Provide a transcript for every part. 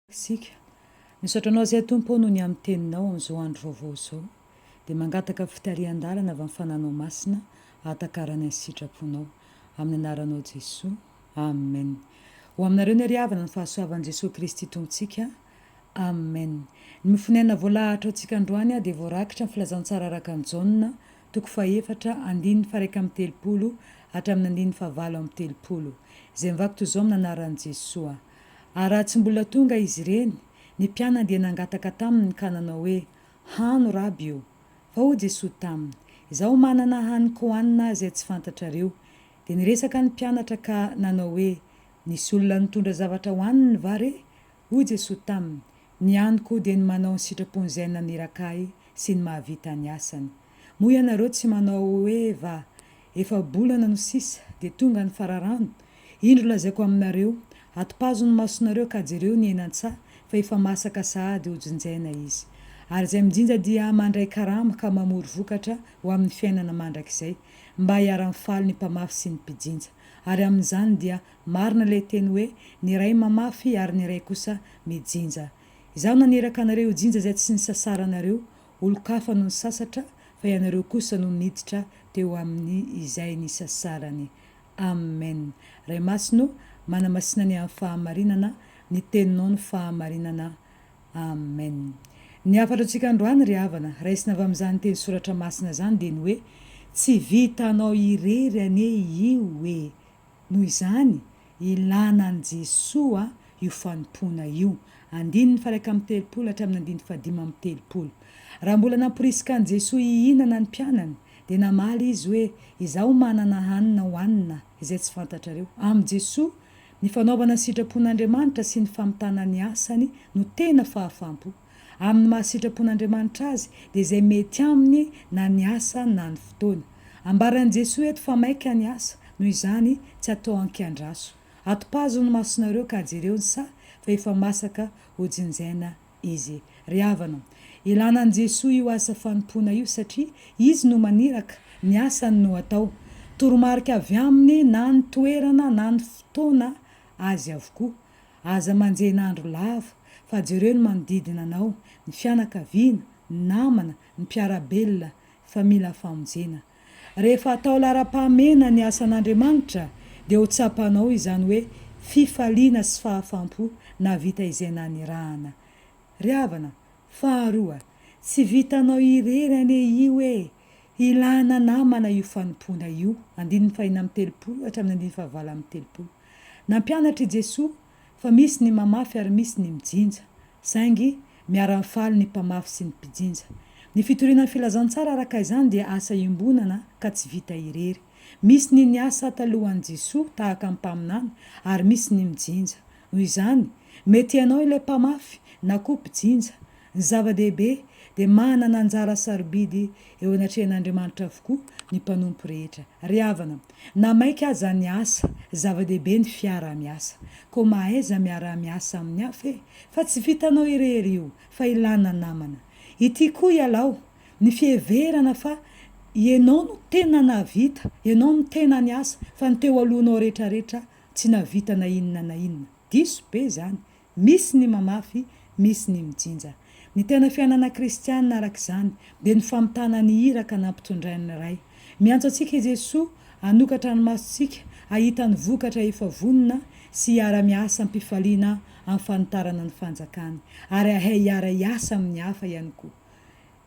Isika. Misaotra Anao Zay Tompo ô noho ny amin'ny Teninao amin'izao andro vaovao izao. Dia mangataka fitarihan-dalana avy amin'ny Fananao Masina hahatakarany ny sitraponao. Amin'ny Anaranao Jesoa. Amen. Ho aminareo ny hary havana ny fahasoavan'i Jesoa Kristy Tompontsika. Amen. Ny mofon'aina voalahatra ho antsika androany dia voarakitra amin'ny Filazantsara araka an'i Jaona, toko fahefatra, andininy faharaika amby telopolo hatramin'ny andininy fahavalo amby telopolo. Izay mivaky toy izao amin'ny Anaran'i Jesoa. Ary raha tsy mbola tonga izy ireny, ny mpianany dia nangataka taminy ka nanao hoe, Hano, Raby ô. Fa hoy Jesoa taminy, Izaho manana haniko hohanina izay tsy fantatrareo. Dia niresaka ny mpianatra ka nanao hoe, Nisy olona nitondra zavatra hohaniny va re? Hoy Jesoa taminy, Ny haniko dia ny manao ny sitrapon'izay naniraka Ahy sy ny mahavita ny asany. Moa ianareo tsy manao hoe va, efa-bolana no sisa dia tonga ny fararano? Indro lazaiko aminareo, atopazo ny masonareo ka jereo ny henan-tsaha fa efa masaka sahady ho jinjaina izy. Ary izay mijinja dia mandray karama ka mamory vokatra ho amin'ny fiainana mandrakizay, mba hiara-mifaly ny mpamafy sy ny mpijinja. Ary amin'izany dia marina ilay teny hoe, Ny iray mamafy ary ny iray kosa mijinja. Izaho naniraka anareo hijinja izay tsy nisasaranareo, Olon-kafa no nisasatra fa ianareo kosa no niditra teo aminy izay nisasarany. Amen. Ray Masina ô, manamasina ny amin'ny fahamarinana, ny Teninao no fahamarinana. Amen. Ny hafatra antsika androany ry havana, raisina avy amin'izany teny soratra masina izany dia ny hoe, Tsy vitanao irery anie io e! Noho izany, ilàna an'i Jesoa io fanompoana io. Andininy faharaika amby telopolo hatramin'ny andininy fahadimy amby telopolo. Raha mbola namporisika an'i Jesoa hihinana ny mpianany, dia namaly Izy hoe, Izaho manana hanina hohanina izay tsy fantatrareo. Amin'i Jesoa, ny fanaovana ny sitrapon'Andriamanitra sy ny famitana ny asany no tena fahafaham-po. Amin'ny maha sitrapon'Andriamanitra azy, dia izay mety aminy na ny asa na ny fotoana. Ambaran'i Jesoa eto fa maika ny asa, noho izany, tsy atao ankiandraso. Atopazo ny masonareo ka jereo ny saha fa efa masaka hojinjaina izy. Ry havana o! Ilana an'i Jesoa io asa fanompoana io satria Izy no maniraka, ny asany no atao. Toromarika avy Aminy na ny toerana na ny fotoana Azy avokoa. Aza manjena andro lava, fa jereo ny manodidina anao, ny fianakaviana, ny namana, ny mpiara-belona, fa mila famonjena. Rehefa atao laharam-pahamehana ny asan'Andriamanitra, dia ho tsapanao izany hoe fifaliana sy fahafam-po nahavita izay nanirahana. Ry havana, faharoa, tsy vitanao irery anie io e! Ilana namana io fanompoana io, andininy fahina amby telopolo hatramin'ny andininy fahavalon'ny telopolo. Nampianatra i Jesoa fa misy ny mamafy ary misy ny mijinja, saingy miara-mifaly ny mpamafy sy ny mpijinja. Ny fitoriana ny filazantsara araka izany dia asa iombonana ka tsy vita irery. Misy ny niasa talohan'i Jesoa tahaka ny mpaminany ary misy ny mijinja. Noho izany, mety ianao ilay mpamafy na koa mpijinja. Ny zava-dehibe dia manana anjara sarobidy eo anatrehan'Andriamanitra avokoa ny mpanompo rehetra. Ry havana, Na maika aza ny asa, zava-dehibe ny fiaraha-miasa. Koa mahaiza miaraha-miasa amin'ny hafa e! Fa tsy vitanao irery io, fa ilana namana. Ity koa ialaho, ny fiheverana fa ianao no tena nahavita, ianao no tena niasa, fa ny teo alohanao rehetrarehetra tsy nahavita na inona na inona. Diso be izany, Misy ny mamafy, misy ny mijinja. Ny tena fiainana kristiana, araka izany, dia ny famitana ny iraka nampitondrain'ny Ray. Miantso antsika i Jesoa hanokatra ny masontsika hahita ny vokatra efa vonona sy hiara-miasa am-pifaliana amin'ny fanitarana ny Fanjakany, ary hahay hiara-hiasa amin'ny hafa ihany koa.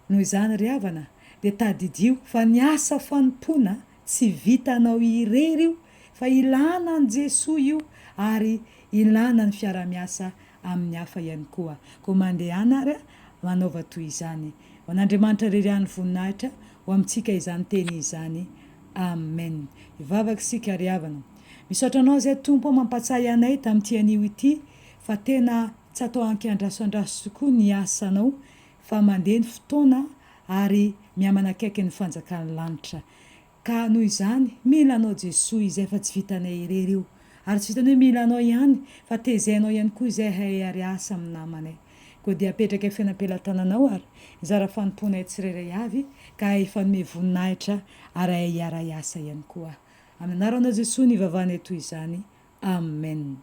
Noho izany ry havana dia tadidio fa ny asa fanompoana tsy vitanao irery io fa ilana an'i Jesoa io ary ilana ny fiara-miasa amin'ny hafa ihany koa. Koa mandehana ary a! manaova toy izany. Ho an'Andriamanitra irery ihany voninahitra ho amintsika izany teny izany. Amen. Hivavaka isika ry havana. Misaotra anao izay Tompo a! mampatsahy anay tamin'ity anio ity fa tena tsy atao ankiandraso andraso tokoa ny asanao fa mandeha ny fotoana ary mihamanakaiky ny fanjakan'ny lanitra ka noho izany mila anao Jesoa izay fa tsy vitanay irery io ary tsy vitanay hoe mila anao ihany fa tezainao ihany koa izahay ary asa amin'ny namanay koa dia apetraka feno am-pelatananao ary hizara fanompoanay tsirairay avy ka hifanome voninahitra ary hahay hiara hiasa ihany koa amin'ny anaranao Jesoa no ivavahanay toy izany Amen.